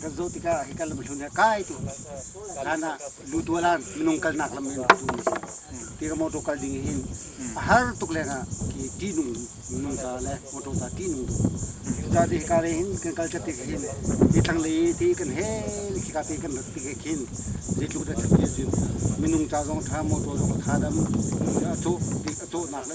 kan zoh tikah hi kan lam hlun he kai tu hlan ah lutua lan minung kalnak lam in tu ni ti ka motor kal ding hin a har tuk leng ah ki ti nung nung ta le motor ta ti nung tu ta ti ka re hin kan kal chate hin hi thang le ti kan he khi ka te kan rat ti khin zeitluk da thil zin minung cha zong tha motor zong tha dam a cho ti a cho nak le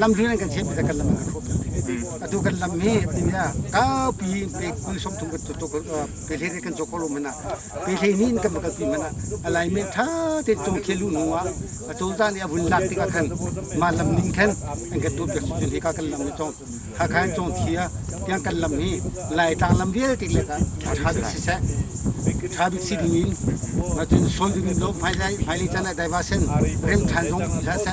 lam rin an kan chek bia kan lam a hrup atu kan lam hi min ya kaupi in pe kul som thum kan to pe le kan cho ko lo mana pe le ni in kan bakal pi mana alai me tha te chung khelu nu a atol za ni abun lak tika khan ma lam ning khan an kan to pe su jin ka kan lam ni chong ha khan chong thia tiang kan lam hi lai tang lam vial tik le ka tha bi si se thabik si ding in ma tin sol ding lo phai lai phai li chana diversion rem than jong sa se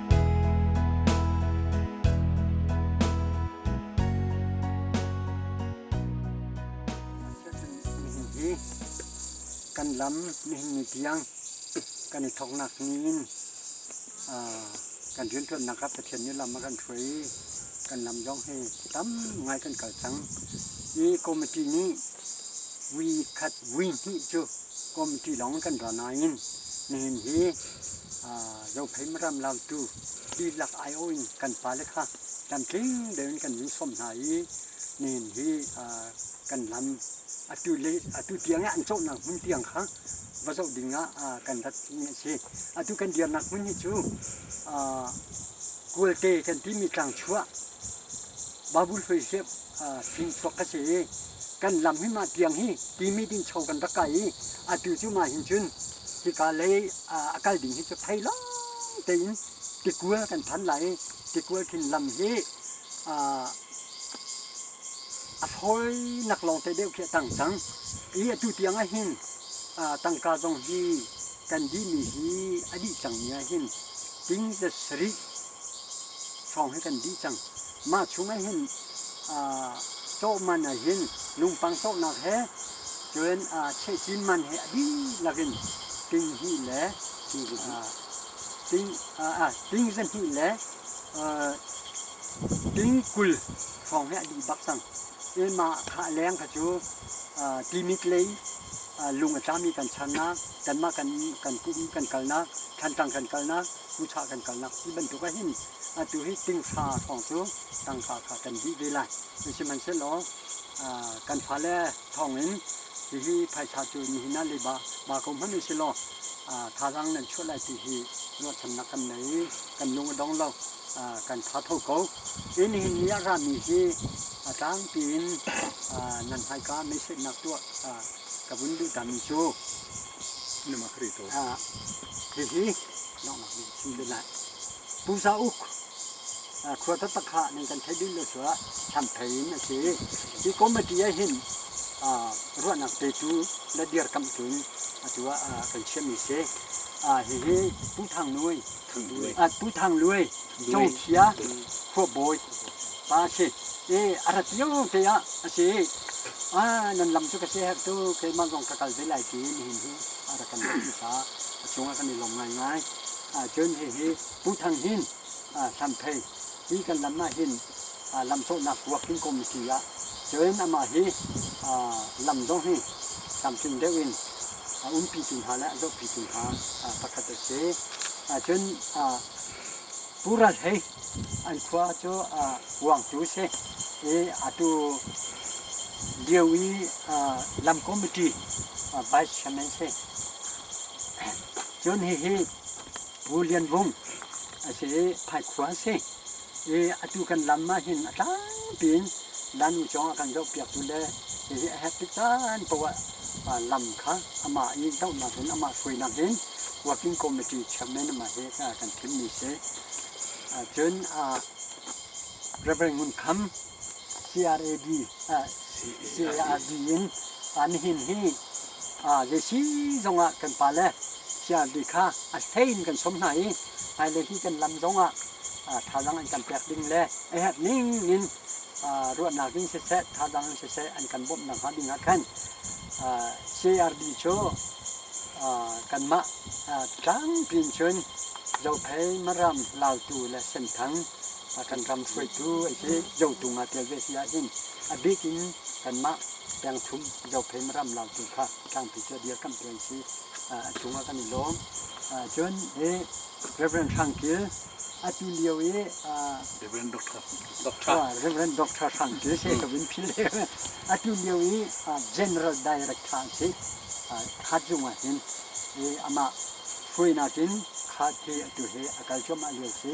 kan lam nihin ni tiang kan i thoknak niin kan rianṭuannak ah Pathian nih lam a kan hruai i kan lam zong hi tam ngai kan kal cang i committee nih vi khat vi hnih cu committee lawng in kan ra nain nihin hi Zophei Maram Lautu dihlak aiawh in kan pale kha tlamtling deuh in kan nungsawm hna i nihin hi kan lam atu le atu tiang i an cawhnak hmun tiang kha va zoh ding ah kan ratmi a si. Atu kan dirnak hmun hi cu Kualte kan timi tlangchuah babul hoi sep sing chuak a si i kan lam hi mah tiang hi timit in cho kan rak kai i atu cu mah hin cun hika lei a kal ding hi cu thei lawng tein tikual kan phan lai i tikual khin lam hi a fawinak lawng te deuh khi a tang cang i atu tiang ah hin tangka zong hi kan dihmi hi a dih cang ni ah hin ting le sarih hrawng hi kan dih cang Mah chung ah hin cawh man ah hin lungpang cawhnak he cun cheh cin man he a dihlak in ting hnih le ting zahnih le ting kul hrawng hi a dih bak cang. I mah khah leng kha cu Timit lei lung a tlami kan channak, kanmah kan pum kan kalnak, thlantlang kan kalnak, ucha kan kalnak ti bantuk ah hin Atu hi tingsa thawng cu tangka kha kan dih ve lai. Sihmanhsehlaw kan fale thawngin hihi phaisa cu nihin ah le ba ko hmanh u silaw thazaang nan chuah lai ti hi ruahchannak kan nei i kan lung a dong lo. kan tha tho ko. Hi nihin ni ah rami hi a tlangpi in nan hmaika meisetnak tuah ka vun duhtami cu hihi donghnak nih a chim ve lai. Pusa uk khua taktak kha nan kan theih dun lo suah Hlampei in a si. Hi committee ah hin ruahnak te cu na dirkamh tlun atu ah kan chiahmi si. Hihi Pu Thang Nuai, Pu Thang Luai, Congthia khuabawi pa a si. A rat lio te ah a si. Nan lam cu ka si herh tu keimah zong ka kal ve lai tiin nihin hi a rak kan rak sa. A cungah kan i lawm ngaingai. Cun hihi Pu Thang Hnin Hlamphei hi kan lam ah hin lamcawhnak kuak in kom a si ah cun amah hi lam zong hi tlamtling deuh in a umpitu hna le a zohpitu hna pakhat a si. Cun Pu Ral Hlei an khua cu Kuangtu si i atu lio i lam committee vice chairman si. Cun hihi Pu Lian Vung a si i Phaikhua a si i atu kan lam ah hin a tlangpi in Lanu cung a kan zohpiaktu le hihi a herh tik caan paoh ah lam kha amah i dohnak in amah hruainak in Working Committee Chairman amah hi kan thimmi si. Cun Reverend Ngun Kham CRAD CARD in nihin hi zeisi zongah kan pale CRD kha a hlei in kan som hna i hmailei hi kan lam zongah thazaang an kan pek ding le a herh ning in ruahnak ding siseh thazaang in siseh an kan bawmh nakhnga ding ah khan CRD cu kanmah tlangpi in cun Zophei Maram Lautu le Senthang kan ram hruaitu an si. Zotung ah ṭial ve si ahhin a bik in kanmah pengthum Zophei ram Lautu kha tlangpi cu a dirkamhtu an si. A chungah kan i lawm. Cun hi Rev. Hrang Kil atu lio i Rev. Dr. Hrang Kil Sekau in phil atu lio i General Director an si. Khazung ah hin amah hruainak in kha thi atu hi a kal cuahmah lio a si.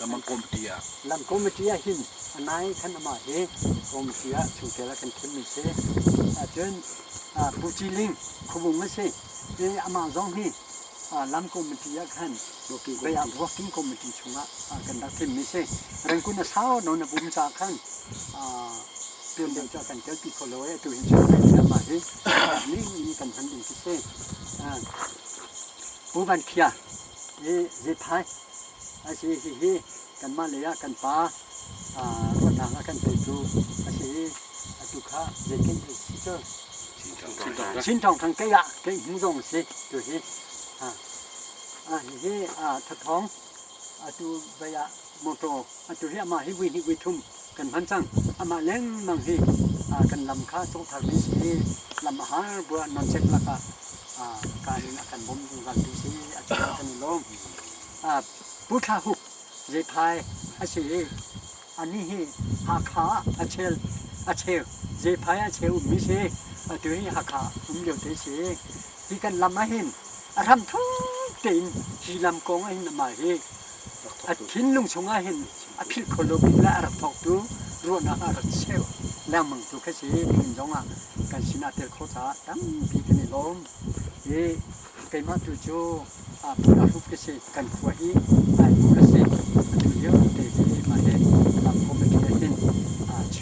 Lamangkawm pi ah. Lamkawm a ṭi ahhin a nai khan amah hi kawm ṭi ah chungtel ah kan thimmi si ahcun Pu Ci Ling khuabung a si i amah zong hi lamkawm a ṭi ah khan Bayang Ruakim kawm a ṭi chungah kan rak thimmi si. Rengkun a sau nawn a pum caah khan tuan deuh cu a kan telpi kho lo i atu hin chun kai in amah hi ning in kan hman ding khi si. Pu Van Khia i Zephai Ai si hihi kanmah lei ah kan pa ruahnak a kan teitu a si i atu kha zei kan ei si cu Chin Thawng Thang kei ah kei hmu zong a si tu hi hihi thathawng atu bei ah motor atu hi amah hi vui hnih vui thum kan hman cang. Amah lengmang hi kan lam kha a cungtharmi si i lam a har buah nonchek lakah kaan in a kan bawm zungzaltu si a cu kan i lawm. Pu Thla Huk zephai a si i anih hi Hakha ah a cheu a cheu zephai a cheu ummi si atu hi Hakha um lio te si hi kan lam ahhin a hram thuk tein hi lam kong ahhin amah hi A thinlung chungah hin a philh kho lo bik le a rak thawktu ruahnak ah a rat cheu lengmang tu khi si kan zong ah kan sinah tel khawh caah tampi kan i lawm i keimah tu cu phun ahlup khi si kan khua hi aibu ka si atu liote khi mah he committee ah hin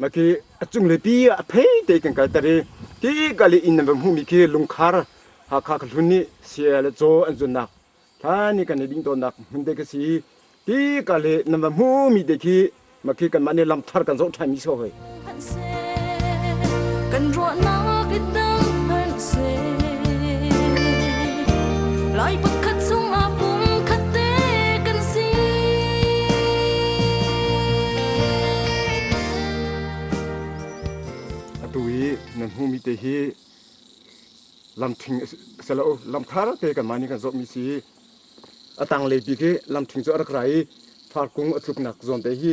Maki a cungle pi ah a phei te kan kalter i ti kal i inn nan va hmuhmi khi lungkhar Hakha ka hlun nih CL le Caw an zunnak hlan i kan i ding tawnnak hmun te ka si i ti kal i nan va hmuhmi te khi maki kanmah nih lamthar kan zoh ṭhanmi si ko hoi. nan hmumi te hi lamthing se lo lamthar te kan mani kan zop mi si atang le pi ke lamthing chu arak rai farkung athuk nak zon te hi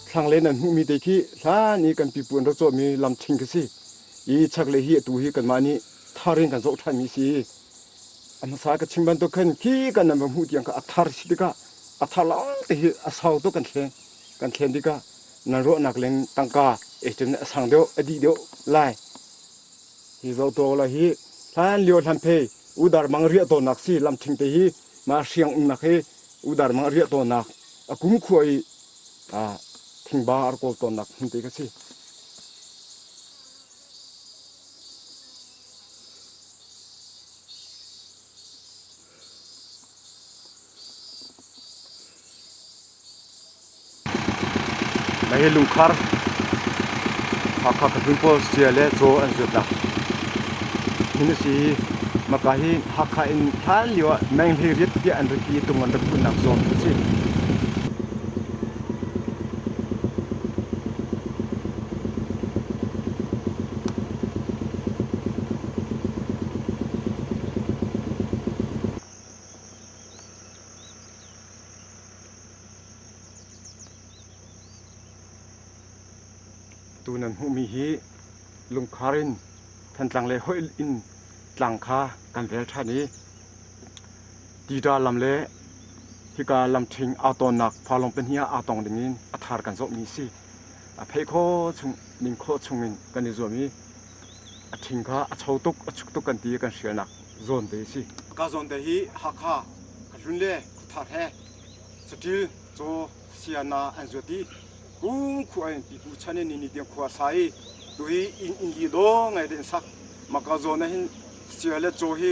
Thlanglei nan hmuhmi te khi hlan i kan pipu an rak cawhmi lam ṭhing khi si i chaklei hi atu hi kanmah nih thar in kan zoh ṭhanmi si a hmasa ka chim bantuk khan khi kan nan va hmuh tiang kha a thar si tikah a thar lawngte hi a sau tuk kan thlen kan thlen tikah nan ruahnak leng tangka echen a sang deuh a dih deuh lai hi zoto la hi hlan lio hlan phe udar mang riah tawnnak si lam ṭhing te hi ma hriang umnak hi udar mang riah tawnnak a kum khua i thingba a rak kawl tawnnak hmun te ka si. Mai hi lungkhar Hakha Kahlun pawl sia le chaw an zuat la. Hin si maka hi Hakha in hlan lio ah menghlei riat tiah an raki tung an rak kun nak zon ka si. Tu nan hmuhmi hi lungkhar in Thantlang le hoih in tlang kha kan vel ṭhan i Tida lam le hika lamṭhing aa tawnnak falawng pahnih ah aa tong dingin a thar kan zohmi a si. A pheh khawh chung, ning khawh chungin kan i zuam i a ṭhing kha a cho tuk, a chuk tuk kan ti i kan hrialnak zawn te a si. Ka zawn te hi Hakha, hlun le thar he saṭil, caw, siana an zuat i kum khua in pipu chan in nini tiang khua a sa i tuhi inn inn li dawh ngai te in sak. Mah ka zawn ah hin sia le caw hi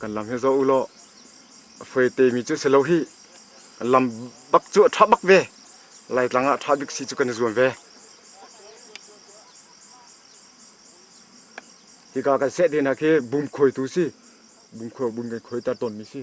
kan lam hi zoh u law a fuete mi cu si lo hi lam bak cu a ṭha bak ve laitlang ah ṭha bik si cu kan i zuam ve hika kan seh te hna khi bum khuaitu si bum khuai bum kan khuaiter tawnmi si